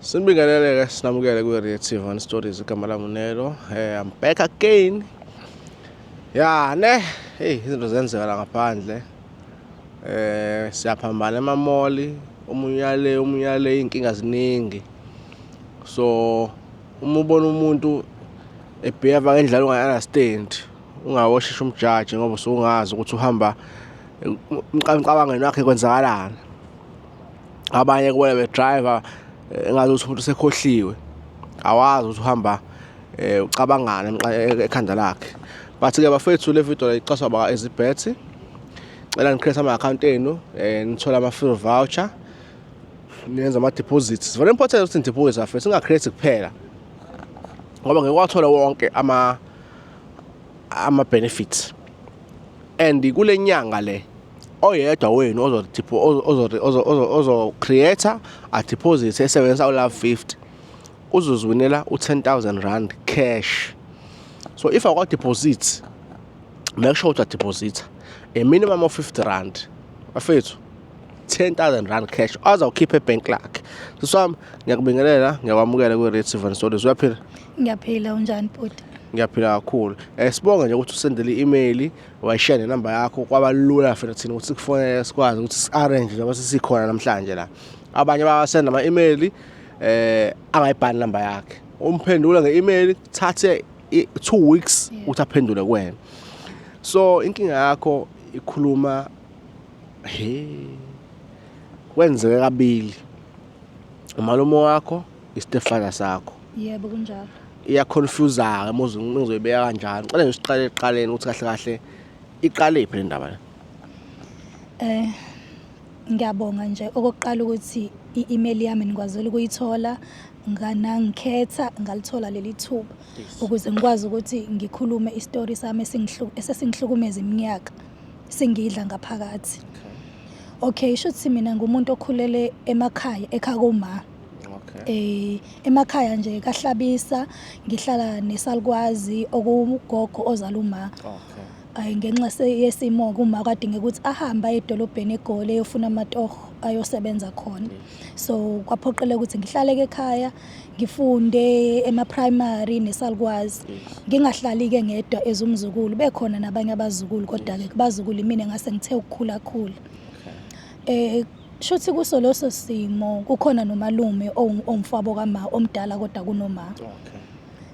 Sinibingelele-ke sinamukele kwi-Reactive on Stories igama lami uNelo. Eh I'm back again. Ya ne, hey izinto zenzeka la ngaphandle. Eh siyaphambana emamoli, omunye uyale, omunye uyale inkinga ziningi. So uma ubona umuntu ebheva ngendlela ungayi-understand ungawosheshe umjaji ngoba usungazi ukuthi uhamba emcabangweni wakhe kwenzakalani abanye kubona bedriver engathi uthi umuntu sekhohliwe awazi ukuthi uhamba eh ucabangana e-, ekhanda lakhe but ke bafethu le video iqaswa ba ezibhethi cela nicreate ama account enu eh nithola ama free voucher niyenza ama deposits very important ukuthi deposit afethu singa create kuphela ngoba ngeke wathola wonke ama ama benefits and kulenyanga le oyedwa wenu ozo-creator adeposit esebenzisa u-love 50 uzozwinela u-10000 rand cash so if akwadeposit make sure ukuthi adepositha a minimum of 50 rand bafethu 10000 rand cash azawukhipha ebhenki lakhe siswami ngiyakubingelela ngiyakwamukela kwi-red seven stories uyaphila ngiyaphila unjani bhuti ngiyaphila kakhulu um sibonge nje ukuthi usendele i-imeyili wayishiya nenamba yakho kwaba lula fena thina ukuthi sikufonele sikwazi ukuthi si-arrange njengoba sesikhona namhlanje la abanye babasenda ama-email eh angayibhali namba yakhe umphendula nge-email thathe two weeks ukuthi aphendule kuwena so inkinga yakho ikhuluma he kwenzeke kabili umalume wakho istepfather sakho yebo kunjalo iyaconfuseka muze ngizoyibeka kanjani cela nje siqale eqaleni ukuthi kahle kahle iqale iphi le ndaba eh ngiyabonga nje okokuqala ukuthi i-email yami nikwazile ukuyithola nganangikhetha ngalithola leli thuba ukuze ngikwazi ukuthi ngikhulume isitori sami esesingihlukumeza iminyaka singidla ngaphakathi okay sho ukuthi mina ngumuntu okhulele emakhaya ekhaya koma Okay. Eh emakhaya nje kaHlabisa ngihlala nesalukwazi okugogo ozala uma. Okay. Ay ngenxa yesimo kuma kwadinga ukuthi ahamba edolobheni eGoli eyofuna amatoho ayosebenza khona. So kwaphoqeleka ukuthi ngihlale ekhaya ngifunde ema primary nesalukwazi. Ngingahlali ke ngedwa ezumzukulu bekhona nabanye abazukulu kodwa ke kubazukulu mina ngase ngithe ukukhula khula. Okay. Eh Shuthi kuso leso simo kukhona nomalume ongumfabo kama omdala kodwa kunoma. Okay.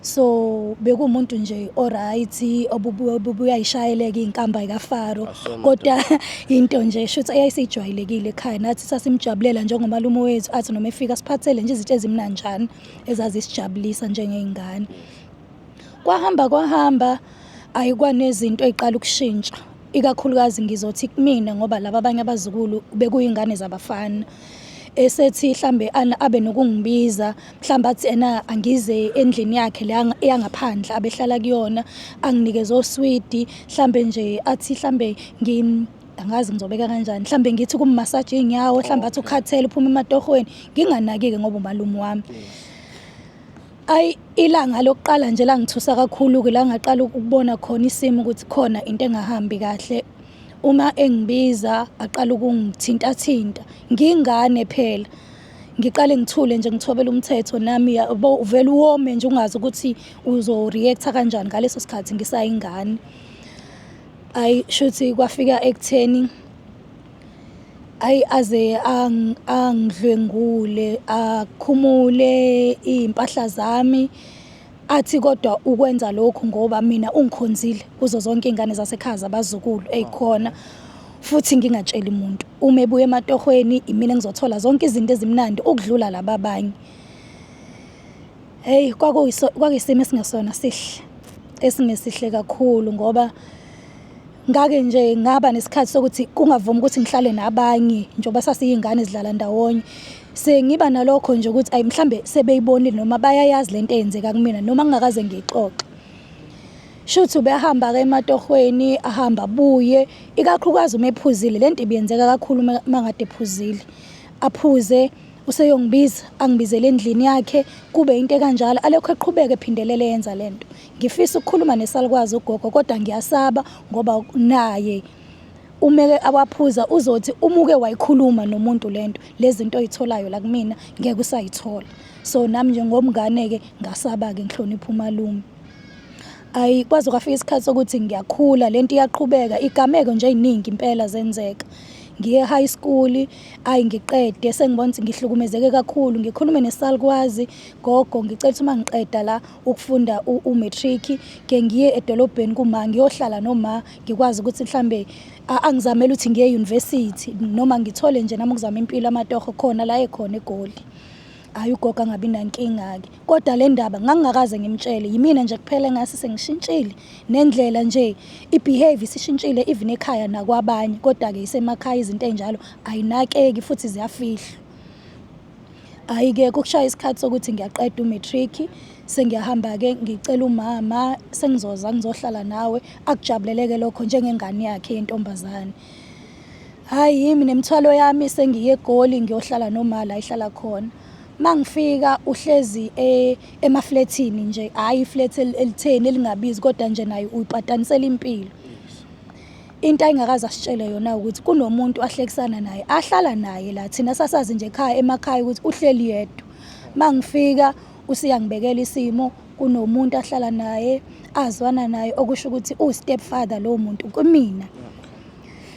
So bekumuntu nje oright obuyayishayeleka inkamba kaFaro kodwa into nje shuthi eyayisijwayelekile ekhaya nathi sasimjabulela njengomalume wethu athi noma efika siphathele nje izinto ezimnanjani ezazisijabulisa njengeingane. Kwahamba kwahamba ayikwanezinto eziqala ukushintsha. ikakhulukazi ngizothi kumina ngoba laba abanye abazukulu bekuyingane zabafana esethi hlambe abe nokungibiza mhlawumbe athi ena angize endlini yakhe le eyangaphandle abehlala kuyona anginikeze oswidi mhlawumbe nje athi hlambe ngim angazi ngizobeka kanjani mhlawumbe ngithi kummasaje iy'nyawo mhlawumbe athi ukhathele uphuma ematohweni nginganaki-ke ngoba umalume wami Ayi ilanga lokuqala nje langithusa kakhulu-ke la ngaqala ukubona khona isimo ukuthi khona into engahambi kahle uma engibiza aqala ukungithintathinta ngingane phela ngiqale ngithule nje ngithobela umthetho nami yabo uvele uwome nje ungazi ukuthi uzoreacta kanjani ngaleso sikhathi ngisayingane ayi shuthi kwafika ekutheni ayi aze angidlwengule akhumule iy'mpahla zami athi kodwa ukwenza lokhu ngoba mina ungikhonzile kuzo zonke iy'ngane zasekhaya zabazukulu ey'khona futhi ngingatsheli muntu uma ebuya ematohweni imina ngizothola zonke izinto ezimnandi ukudlula laba abanye heyi kwakuyisimo esingesona sihle esingesihle kakhulu ngoba ngake nje ngaba nesikhathi sokuthi kungavumi ukuthi ngihlale nabanye njengoba sasiyingane zidlala ndawonye sengiba nalokho nje ukuthi ayi mhlambe sebeyibonile noma bayayazi lento eyenzeka kumina noma ngingakaze ngiyixoxe shuthi ubehamba ke ematohweni ahamba buye ikakhulukazi uma ephuzile lento ibiyenzeka kakhulu mangade ephuzile aphuze useyongibiza angibizele endlini yakhe kube into kanjalo alokho eqhubeke ephindelele yenza lento Ngifisa ukukhuluma nesalukwazi ugogo kodwa ngiyasaba ngoba naye umeke awaphuza uzothi umuke wayikhuluma nomuntu lento lezinto oyitholayo la kumina ngeke usayithola so nami nje ngomngane ke ngasaba ke ngihlonipha umalume ayi kwaze kwafika isikhathi sokuthi ngiyakhula lento iyaqhubeka igameko nje eziningi impela zenzeka ngiye high school ayi ngiqede sengibona ukuthi ngihlukumezeke kakhulu ngikhulume nesalukwazi gogo ngicela ukuthi uma ngiqeda la ukufunda u-matric ke ngiye edolobheni kuma ngiyohlala noma ngikwazi ukuthi mhlambe angizamele ukuthi ngiye university noma ngithole nje nami ukuzama impilo amatoho khona la ekhona egoli hayi ugogo angabi nankinga-ke kodwa le ndaba ngangingakaze ngimtshele yimina nje kuphela engase sengishintshile nendlela nje i-behavior isishintshile even ekhaya nakwabanye kodwa-ke isemakhaya izinto ey'njalo ayinakeki futhi ziyafihlwa Hhayi-ke kukushaye isikhathi sokuthi ngiyaqeda u-matric sengiyahamba-ke ngicela umama sengizoza ngizohlala nawe akujabuleleke lokho njengengane yakhe yentombazane hhayi yimi nemithwalo yami sengiye egoli ngiyohlala noma la ihlala khona uma ngifika uhlezi e, emaflethini nje hhayi iflethi elitheni elingabizi kodwa nje naye uyipatanisela impilo Into ayingakaze asitshele yona ukuthi kunomuntu ahlekisana naye ahlala naye la thina sasazi nje ekhaya emakhaya ukuthi uhleli yedwa mangifika usiyangibekela isimo kunomuntu ahlala naye azwana naye okusho ukuthi u stepfather lo muntu kumina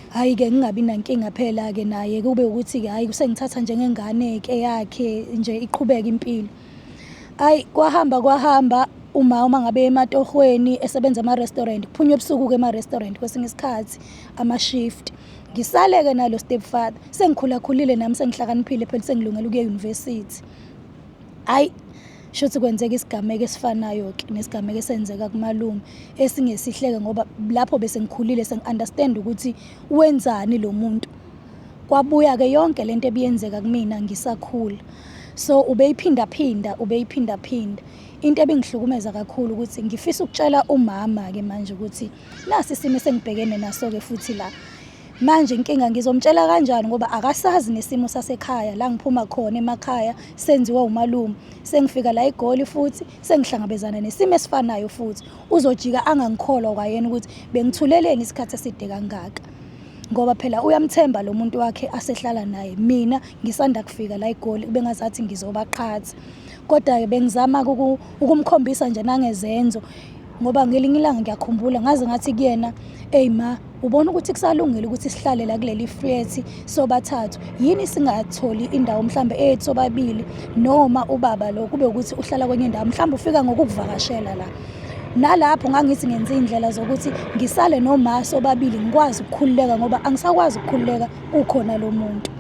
hayi ke ngingabi nankinga phela ke naye kube ukuthi ke hayi kusengithatha njengengane ke yakhe nje iqhubeka impilo Ayi kwahamba kwahamba uma uma ngabe ematohweni esebenza ama-restaurant kuphunywa ebusuku-ke ema-restaurant kwesinye isikhathi ama-shift ngisale-ke nalo step father sengikhulakhulile nami sengihlakaniphile phela sengilungela ukuya eyunivesithi hhayi shuthi kwenzeka isigameko esifanayo-ke nesigameko esenzeka kumalume esingesihleke ngoba lapho bese ngikhulile sengi-understand ukuthi wenzani lo muntu kwabuya-ke yonke le nto ebiyenzeka kumina ngisakhula so ubeyiphindaphinda ubeyiphindaphinda into ebingihlukumeza kakhulu ukuthi ngifisa ukutshela umama-ke manje ukuthi nasi isimo esengibhekene naso-ke futhi la manje inkinga ngizomtshela kanjani ngoba akasazi nesimo sasekhaya la ngiphuma khona emakhaya senziwa umalume sengifika la igoli futhi sengihlangabezana nesimo esifanayo futhi uzojika angangikholwa kwayena ukuthi bengithuleleni isikhathi eside kangaka ngoba phela uyamthemba lo muntu wakhe asehlala naye mina ngisanda kufika la egoli bengazathi ngizobaqhatha kodwa-ke bengizama-ke ukumkhombisa nje nangezenzo ngoba ngelinye ilanga ngiyakhumbula ngaze ngathi kuyena eyi ma ubona ukuthi kusalungile ukuthi sihlale la kuleli frethi sobathathu yini singatholi indawo mhlawumbe eyethu sobabili noma ubaba lo kube ukuthi uhlala kwenye indawo mhlawumbe ufika ngokukuvakashela la nalapho ngangithi ngenze indlela zokuthi ngisale noma sobabili ngikwazi ukukhululeka ngoba angisakwazi ukukhululeka ukhona lo muntu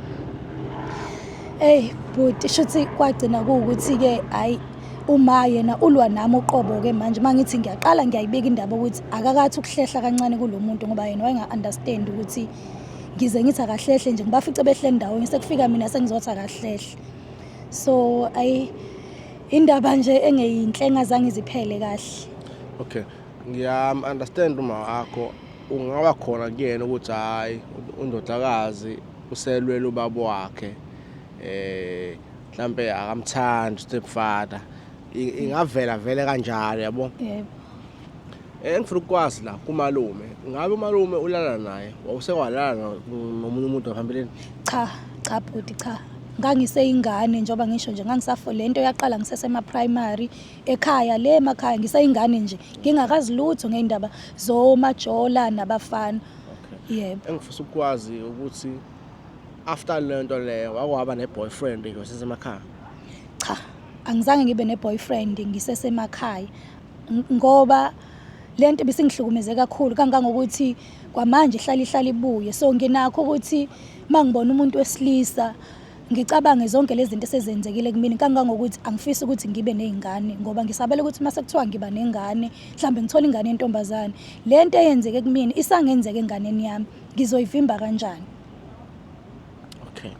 eyi bhuti shuthi kwagcina kuwukuthi-ke hhayi uma yena ulwa nami uqobo-ke manje uma ngithi ngiyaqala ngiyayibeka indaba ukuthi akakathi ukuhlehla kancane kulo muntu ngoba yena wayenga-understand ukuthi ngize ngithi akahlehle nje ngibafice behle ndawonye sekufika mina sengizothi akahlehle so ayi Indaba nje engeyinhle engazange iziphele kahle. Okay. Ngiyam understand uma wakho ungaba khona kuyena ukuthi hayi undodakazi uselwela ubaba wakhe eh mhlambe akamthandi stepfather ingavela vele kanjalo yabo. Yebo. engifuna ukukwazi la kumalume ngabe umalume ulala naye wawusewalala nomunye umuntu ngaphambilini cha cha bhuti cha ngangiseyingane njengoba ngisho nje ngangisafo le nto yaqala ngisesema-primary ekhaya le emakhaya ngiseyingane nje ngingakazi lutho ngey'ndaba zomajola nabafana yebo engifisa ukukwazi ukuthi after le nto leyo wakwaba ne-boyfriend nje wasesemakhaya cha angizange ngibe ne-boyfriend ngisesemakhaya ngoba le nto ibisingihlukumeze kakhulu kangangokuthi kwamanje ihlale ihlale ibuye so nginakho ukuthi uma ngibona umuntu wesilisa ngicabange zonke lezi zinto esezenzekile kumina kangangokuthi angifisi ukuthi ngibe nezingane ngoba ngisabela ukuthi uma sekuthiwa ngiba nengane mhlawumbe ngithola ingane yentombazane le nto eyenzeke kumina isangenzeka enganeni yami ngizoyivimba kanjani okay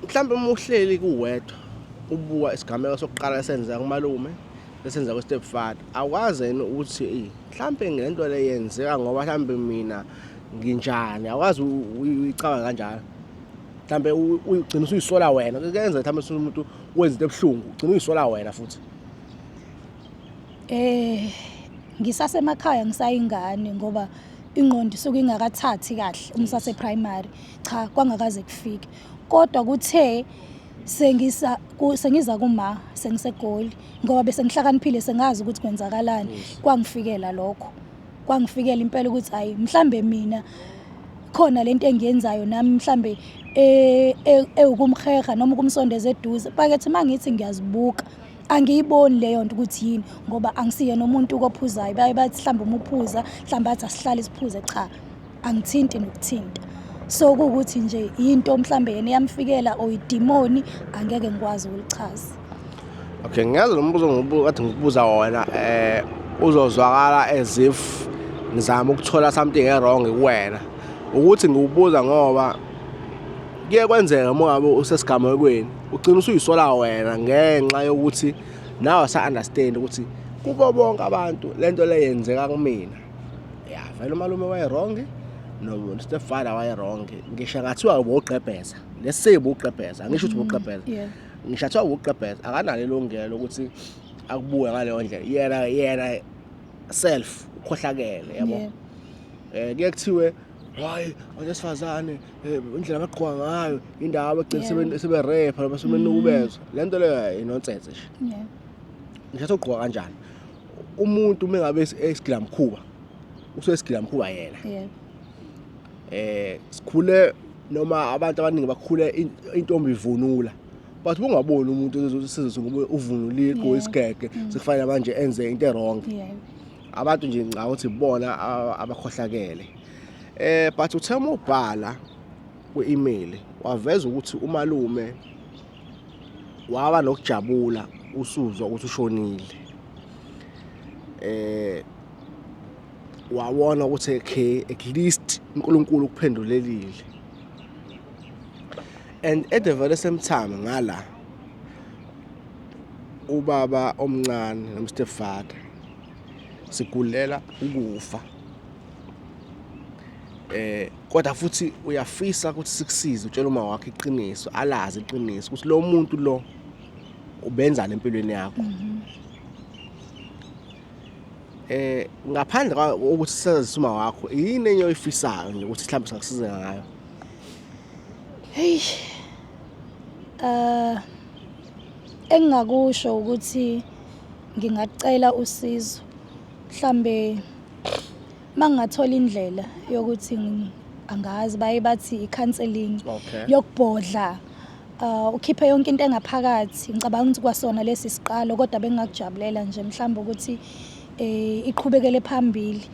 mhlawumbe uma uhleli kuwedwa ubuka isigameko sokuqala esenza kumalume esenza ku-step father akwazi yini ukuthi eyi mhlawumbe ngento le yenzeka ngoba mhlawumbe mina nginjani akwazi uyicabanga kanjalo mhlawumbe ugcina usuyisola wena kuyenza mhlawumbe umuntu wenza into ebuhlungu ugcina uyisola wena futhi Eh ngisasemakhaya ngisayingane ngoba ingqondo isuke ingakathathi kahle uma usase primary cha kwangakaze kufike kodwa kuthe sengisa ku- sengiza kuma sengisegoli ngoba bese ngihlakaniphile sengazi ukuthi kwenzakalani kwangifikela lokho kwangifikela impela ukuthi hayi mhlambe mina khona lento engiyenzayo nami mhlambe eh, eh, ewukumheha noma ukumsondeza eduze pakethi mangithi ngiyazibuka angiyiboni leyo nto ukuthi yini ngoba angisiyena umuntu kophuzayo baye bathi mhlawumbe uma uphuza mhlawumbe athi asihlale siphuze cha angithinti nokuthinta so kuwukuthi nje yinto mhlawumbe yena eyamfikela or idimoni angeke ngikwazi ukulichaza okay ngiyazi lo mbuzo ngathi ngikubuza wona eh uzozwakala as if ngizama ukuthola something e-wrong kuwena ukuthi ngiwubuza ngoba kuye kwenzeka uma ngabe usesigamekweni ugcina usuyisola wena ngenxa yokuthi nawe sa understand ukuthi kubo bonke abantu lento le yenzeka kumina ya vele umalume waye wrong no stepfather waye wrong ngisho ngathiwa ubugqebheza lesibu ugqebheza ngisho ukuthi ubugqebheza mm, ngisho athiwa ubugqebheza akanalo ilungelo ukuthi akubuke ngaleyo ndlela yena yena self ukhohlakele yabo eh kuye kuthiwe hayi owesifazane Eh, indlela abaqhuba ngayo indawo abagcina seberepha noma sebenukubezwa mm. le nto leyo inonsese nje ngithatha ugqoka kanjani umuntu uma ngabe esigila mkhuba usuke esigila mkhuba yena eh sikhule noma abantu abaningi bakhule intombi ivunula but ungaboni umuntu sizwe ngoba uvunulile igqoka isigege mm. sekufanele manje enze into erong abantu nje ngicabanga ukuthi bona abakhohlakele Eh but uthe uma ubhala kwi-email waveza ukuthi umalume waba nokujabula usuzwa ukuthi ushonile eh wawona ukuthi okay at least uNkulunkulu ukuphendulelile and at the very same time ngala ubaba omncane nomstepfather sigulela ukufa eh kodwa futhi uyafisa ukuthi sikusize utshela uma wakhe iqiniso alazi iqiniso ukuthi lo muntu lo ubenzana empilweni yakho mhm. eh ngaphandle kokuthi sazise uma wakho yini enye oyifisayo nje ukuthi mhlawumbe singakusiza ngayo hey eh engingakusho ukuthi ngingacela usizo mhlambe mangingathola indlela yokuthi angazi baye bathi i-counseling okay. yokubhodla uh, ukhiphe yonke into engaphakathi ngicabanga ukuthi kwasona lesi siqalo kodwa bengingakujabulela nje mhlawumbe ukuthi eh, iqhubekele phambili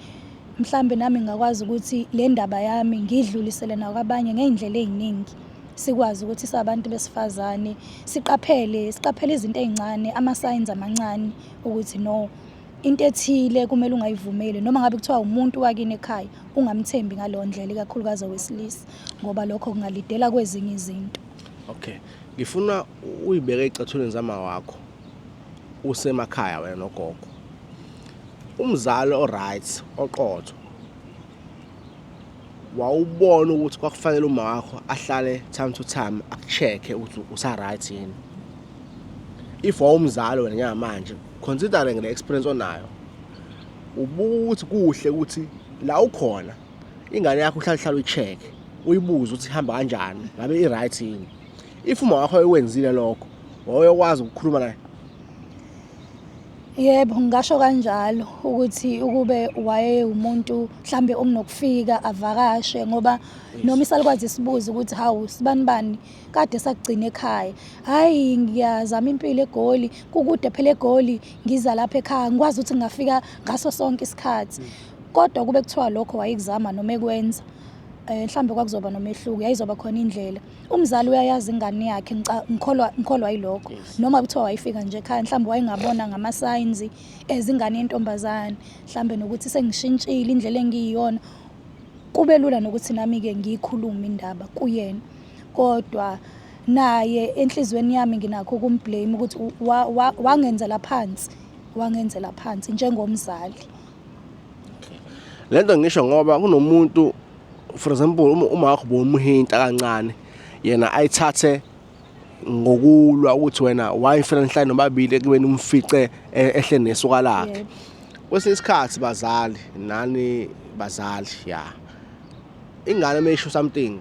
mhlawumbe nami ngingakwazi ukuthi le ndaba yami ngidlulisele nakwabanye ngey'ndlela ey'ningi sikwazi ukuthi sabantu besifazane siqaphele siqaphele izinto ey'ncane ama-signs amancane ukuthi no into ethile kumele ungayivumeli noma ngabe kuthiwa umuntu wakini ekhaya ungamthembi ngaleyo ndlela ikakhulukazi owesilisa ngoba lokho kungalidela kwezinye izinto okay ngifuna uyibeke ecathulweni zama wakho usemakhaya wena nogogo umzali oright oqotho wawubona ukuthi kwakufanele uma wakho ahlale time to time akucheck-e ukuthi usa-right yini if wawumzali wena njengamanje considering le experience onayo ubuka ukuthi kuhle ukuthi la ukhona ingane yakho uhlale hlale uyi-check uyibuze ukuthi ihamba kanjani ngabe i-right yini if uma wakho ewenzile lokho wawuyokwazi ukukhuluma naye Yebo, ngingasho kanjalo ukuthi ukube wayewumuntu mhlambe onokufika avakashe ngoba noma isalukwazi sibuze ukuthi hawu sibani bani kade sakugcina ekhaya. Hayi ngiyazama impilo eGoli, kukude phela eGoli ngiza lapha ekhaya ngikwazi ukuthi ngingafika ngaso sonke isikhathi. Kodwa kube kuthiwa lokho wayekuzama noma ekwenza, mhlambe kwakuzoba nomehluko, yayizoba khona indlela. umzali uyayazi ingane yakhe ngikholwa ngikholwa yilokho noma kuthiwa wayifika nje ekhaya mhlawumbe wayengabona ngama-signs ezingane yentombazane mhlawumbe nokuthi sengishintshile indlela engiyiyona kube lula nokuthi nami-ke ngiyikhulume indaba kuyena kodwa naye enhliziyweni yami nginakho ukumblame ukuthi wangenzela phansi wangenzela phansi njengomzali le nto ngisho ngoba kunomuntu for example uma uma wakho bomuhinta kancane yena ayithathe ngokulwa ukuthi wena wayifela nhlanye nobabili ekubeni umfice e- ehle nesuka lakhe kwesinye isikhathi bazali nani bazali ya ingane uma isho something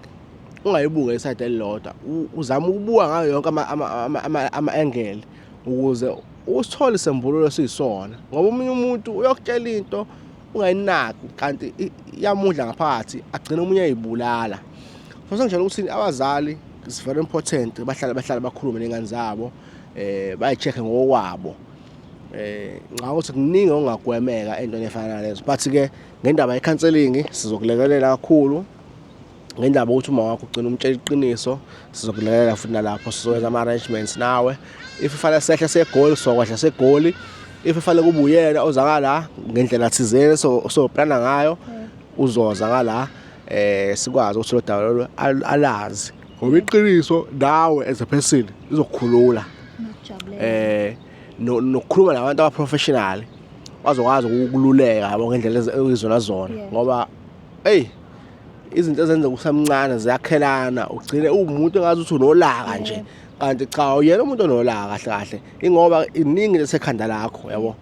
ungayibuke isayide elilodwa U- uzama ukubuka ngayo yonke ama- ama- ama- ama- ama-engele ukuze usithole isembululo esiyisona ngoba omunye umuntu uyokutshela into ungayinaki kanti iyamudla ngaphakathi agcine omunye ayibulala so sengitshela ukuthi abazali is very important bahlale bahlale bakhulume nengane zabo eh bayicheck ngokwabo eh ngakho ukuthi kuningi ongagwemeka entweni efana nalezo but ke ngendaba yecounseling sizokulekelela kakhulu ngendaba ukuthi uma wakho ugcina umtshela iqiniso sizokulekelela futhi nalapho sizokwenza ama-arrangements nawe if kufanele sehle segoli sizokwehla segoli if kufanele kube uyena ozakala ngendlela thizeni soplana ngayo uzoza ngala eh sikwazi ukuthi lo daba lolu alazi ngoba iqiniso nawe as a person izokukhulula eh nokukhuluma nabantu abaprofessional bazokwazi ukukululeka yabo ngendlela ezizona zona ngoba hey izinto ezenzeka usamncane ziyakhelana ugcine uwumuntu engazi ukuthi unolaka nje kanti cha uyena umuntu onolaka kahle kahle ingoba iningi lesekhanda lakho yabo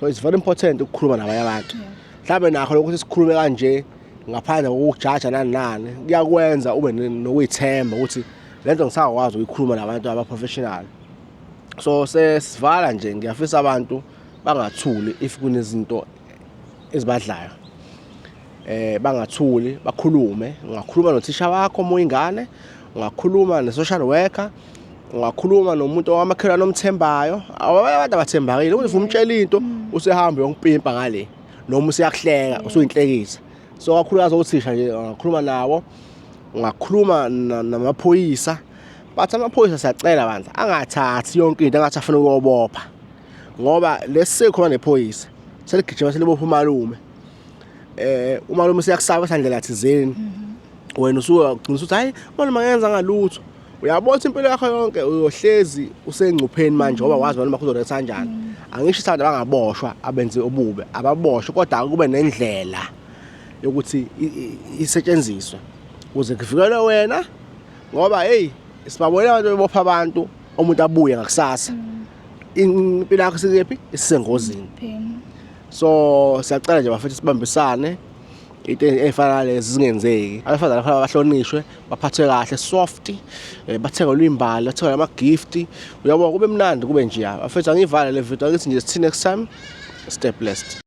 so it's very important ukukhuluma nabanye abantu mhlawumbe nakho lokuthi sikhulume kanje ngaphandle kokujaja nani nani kuyakwenza ube nokuyithemba ukuthi lento ngisakwazi ukuyikhuluma nabantu abaprofessional so sesivala nje ngiyafisa abantu bangathuli if kunezinto ezibadlayo eh bangathuli bakhulume ungakhuluma nothisha wakho uma uyingane ungakhuluma ne-social worker ungakhuluma nomuntu owamakhelwane omthembayo abanye abantu abathembakile ukuthi umtshela into usehamba yonkupimpa ngale noma useyakuhleka usuyinhlekisa so kakhulukazi othisha nje ungakhuluma nawo ungakhuluma namaphoyisa bathi amaphoyisa siyacela bandla angathathi yonke into angathi afuna ukuyobopha ngoba lesikhona nephoyisa seligijima selibopha umalume eh umalume siyakusaba sandlela thizeni mhm. wena usuke ugcina ukuthi hayi umalume angenza ngalutho uyabona impilo yakho yonke uyohlezi usengcupheni manje ngoba wazi noma kuzoletha kanjani mm. angisho isithanda bangaboshwa abenze obubi ababoshwe kodwa kube nendlela yokuthi isetshenziswe ukuze kuvikelwe wena ngoba hey sibabona abantu bebopha abantu umuntu abuye ngakusasa mm. impilo yakho sikephi isisengozini so siyacela nje bafethu sibambisane into efana lezi zingenzeki abefazana kufanele bahlonishwe baphathwe kahle soft eh, bathengelwe imbali bathengelwe ama-gift uyabona kube mnandi kube njeya bafethu angiyivale le video angithi nje sithini next time stay blessed